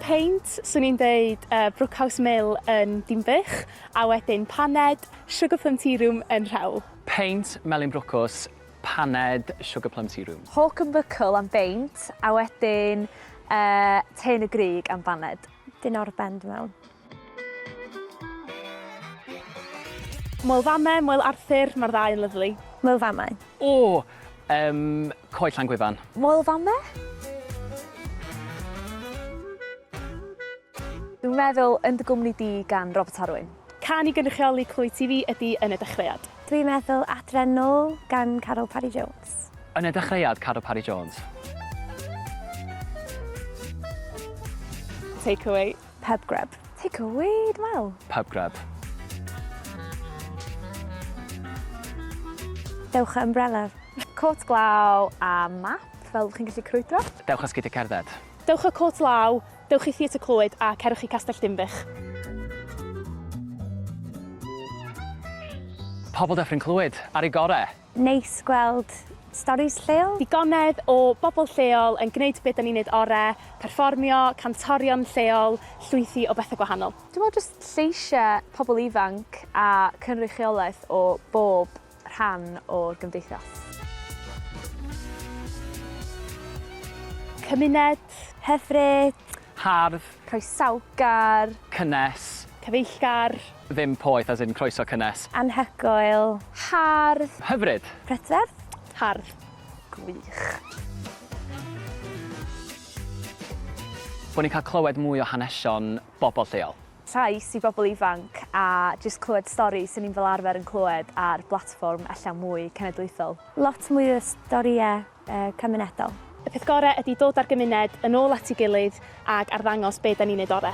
peint, swn i'n deud uh, Brookhouse Mill yn Dinbych, a wedyn paned Sugar Plum Tea Room yn Rhewl. Peint, Melin Brwcws, paned Sugar Plum Tea Room. Hawk and Buckle am beint, a wedyn uh, Tein y Grig am baned. Dyn o'r bend mewn. Moel Fame, Moel Arthur, mae'r ddau yn lyfli. Moel Fame. O! Yym, Coed Llangwyfan. Moel Fame? Dwi'n meddwl Yn dy gwmni di gan Robert Harwyn. Can i gynrychioli Clwyd TV ydi Yn y dechreuad. Dwi'n meddwl Adre'n nôl gan Caryl Parry Jones. Yn y dechreuad, Caryl Parry Jones. Take away. Pub grub. Take a weed well. Pub grub. Dewch â ymbrelaf. Côt glaw a map fel chi'n gallu crwydro. Dewch â sgidiau cerdded. Dewch â côt law, dewch i Theatr Clwyd a cerwch i Castell Dinbych. Pobl Dyffryn Clwyd, ar ei gorau! Neis gweld storis lleol. Digonedd o bobl lleol yn gwneud be dan ni'n neud ore, perfformio, cantorion lleol, llwythi o bethe gwahanol. Dwi'n meddwl jyst lleisia pobl ifanc a cynrychiolaeth o bob rhan o'r gymdeithas. Cymuned. Hyfryd. Hardd. Croesawgar. Cynnes. Cyfeillgar. Ddim poeth as in croeso cynnes. Anhygoel. Hardd. Hyfryd. Prydferth. Hardd. Gwych. Bo ni'n cael clywed mwy o hanesion bobl lleol. Trais i bobl ifanc a jyst clywed storis o'n i'n fel arfer yn clywed ar blatfform ella mwy cenedlaethol. Lot mwy o storïau cymunedol. Y peth gore ydi dod a'r gymuned yn ôl at ei gilydd ag arddangos be da ni'n neud ore.